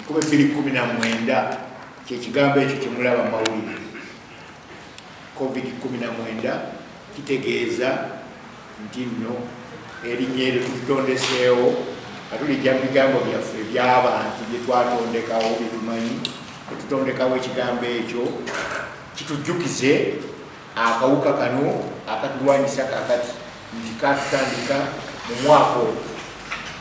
kuba ebbiri kumi na mwenda kyekigambo ekyo kyemulaba mawulire covid kumi na mwenda kitegeeza nti nno erinnya eryo tutondeseewo nga tulijja mu bigambo byaffe ebyabantu bye twatondekawo byetumanyi etutondekawo ekigambo ekyo kitujjukize Akawuka kano akatulwanyisa kakati nti katutandika mu mwaka ogwo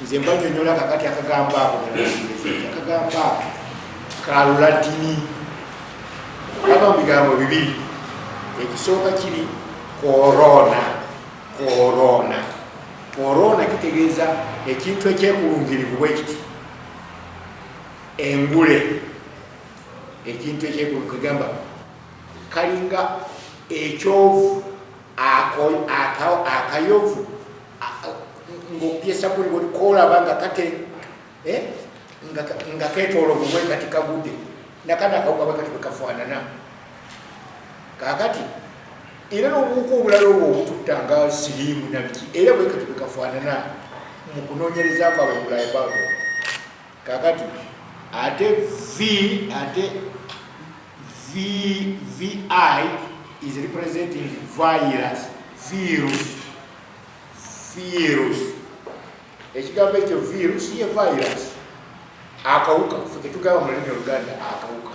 nze mbanyonyola kakati akagamba ako akagamba ako kalulatini aba mu bigambo bibiri ekisooka kiri korona korona korona kitegeeza ekintu ekyekulungirivu bwekiti engule ekintu ekyekulungirivu egamba kalinga ekyovu akayovu ng'okubyesa kuli olikoolaba nga kate eh, nga ketoola obubwe kati kagudde nakana akawukaba kati bwekafaanana kakati era n'obuwuka obulala obwo obututta nga siriimu nabiki era bwekati bwekafaanana mu kunoonyereza kwabwe bulaya babo kakati ate vi ate VVI is representing virus, virus, virus. Ekigambo ekyo virus ye virus. Akawuka, ffe ketugamba mu lulimi oluganda akawuka.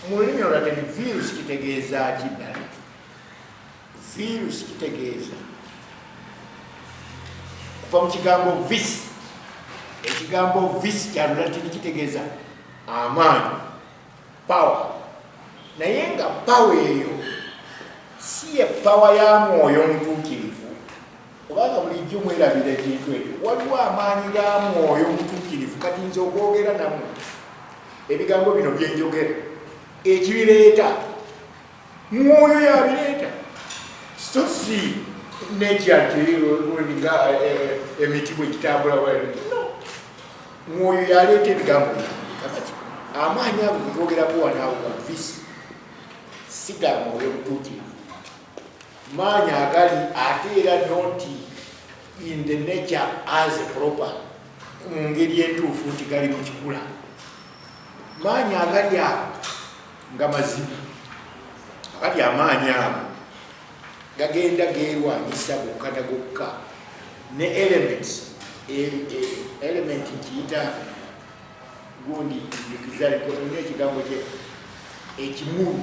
Mu lulimi olulala ni virus kitegeeza ki ddala? Virus kitegeeza kuva mu kigambo vis. Ekigambo vis kya Lulatini kitegeeza amaanyi. Power. Naye nga power eyo si ye power ya mwoyo mutuukirivu kubanga bulijjo mwerabira ekintu ekyo waliwo amaanyi ga mwoyo mutuukirivu kati nze okwogera namwe ebigambo bino byenjogera ekibireeta mwoyo yabireeta so si nature nti nga emiti bwe gitambula no mwoyo yaleeta ebigambo kakati amaanyi ago getwogerako wanaawo gavisi si ga mwoyo mutuukirivu maanyi agali ate era nonti in the nature as a proper mu ngeri entuufu nti gali mu kikula maanyi agali ago nga mazima kati amaanyi ago gagenda geerwanyisa gokka na gokka ne elements e, e, element nkiyita gundi njukizalikona ekigambo kye ekimulu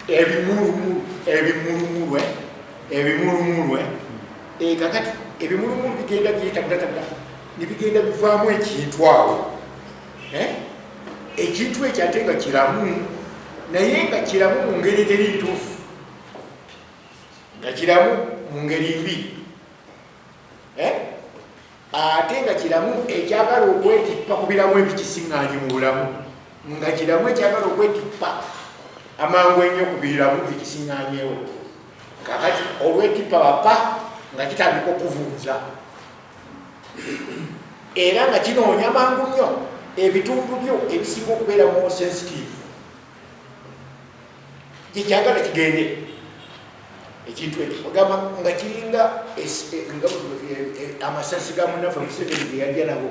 ebimulumulu ebimulumulwe ebimulumulwe eh, kakati ebimulumulu bigenda byetabulatabula nebigenda bivaamu ekintu awo eh? ekintu ekyo ate nga kiramu naye nga kiramu mu ngeri eteri ntuufu nga kiramu mu ngeri mbi eh? ate nga kiramu ekyagala okwetippa ku biramu ebikisiŋŋaanyi mu bulamu nga kiramu ekyagala okwetippa amangu ennyo ku biramu ekisiŋŋaanyewo kakati olwetippa bapa nga kitandika okuvunza era nga kinoonya mangu nnyo ebitundu byo ebisinga okubeera mu sensitive gyekyagala kigende ekintu ekyo ogamba nga kiringa e, e, e, amasasi ga munafe museveni geyalya nabo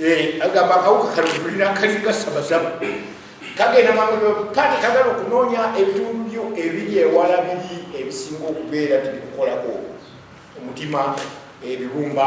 Eh, agamba akawuka kano tulina kalinga sabasaba kagenda maati kagala okunoonya ebitundu byo ebiri ewala biri ebisinga okubeera tibikukolako omutima ebibumba